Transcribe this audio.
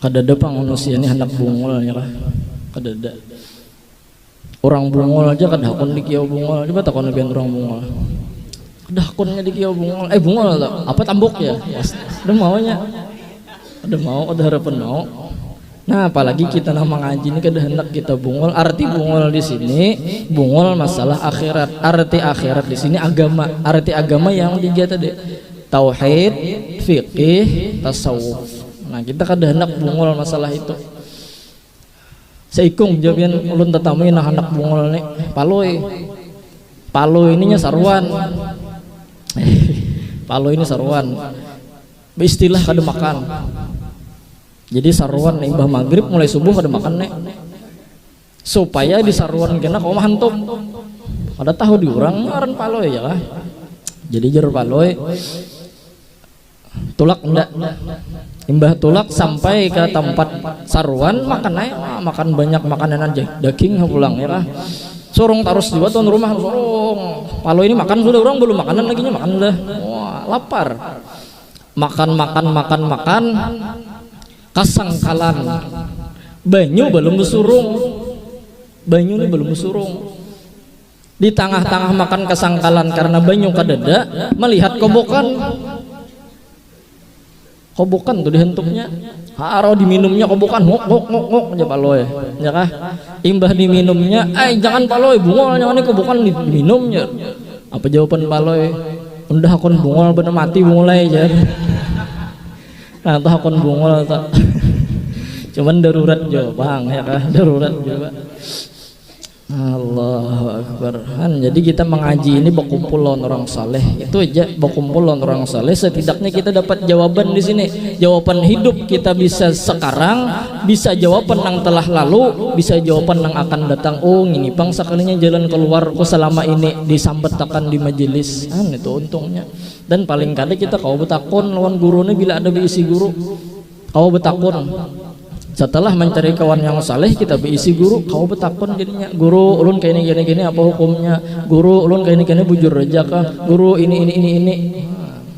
kadada pang manusia ini hendak bungul ya lah kadada orang bungul aja kada hakun dikiau bungul coba takon nabian orang bungul kada hakunnya dikiau bungul eh bungul lah apa tambuk ya ada maunya ada mau ada harapan mau Nah, apalagi kita nang mangaji ini kada hendak kita bungul. Arti bungul di sini, bungul masalah akhirat. Arti akhirat di sini agama. Arti agama yang tiga tadi. Tauhid, fikih, tasawuf. Nah, kita kada hendak bungul masalah itu. Seikung jabian ulun tetamui nah hendak bungul ni. Palui. Palui ininya saruan. Palui ini saruan. Beristilah kada makan. jadi saruan imbah maghrib mulai subuh kada makan ne supaya di saruan kena kau hantup kada tahu di orang ngaran paloi ya lah jadi jar paloi tulak ndak imbah tulak sampai ke tempat saruan makan naik ah, makan banyak makanan aja daging pulang ya lah sorong tarus juga tuan rumah sorong kalau ini makan sudah orang belum makanan lagi makan lah wah lapar Makan makan makan makan kasangkalan banyu balum basurung banyu ni balum basurung di tangah tangah makan kasangkalan karena banyu kadada malihat kobokan kobokan tu dihantuknya harau diminumnya kobokan nguk nguk nguk nguk jar palui nya kah imbah diminumnya ai jangan palui bungul nya ngini kobokan diminum jar apa jawaban palui. Undah hakun bungol bener mati bungolai jar. Nah tuh hakun bungol tuh. Cuman darurat jo bang ya kah darurat jo bang. Allahu Akbar kan jadi kita mengaji ini berkumpul lawan orang saleh itu aja berkumpul lawan orang saleh setidaknya kita dapat jawaban di sini jawaban hidup kita bisa sekarang Bisa jawapan nang telah lalu, bisa jawapan nang akan datang. Oh, ngini pang sakalinya jalan kaluar ku salama ini disambat akan di majelis. Nah, nitu untungnya. Dan paling kada kita kawa batakun lawan guru nih bila ada baisi guru. Kawa batakun. Setelah mancari kawan yang saleh, kita baisi guru, kawa batakun jadinya. Guru, ulun kaini kaini kaini apa hukumnya? Guru, ulun kaini kaini bujur haja kah? Guru, ini ini ini ini. Nah.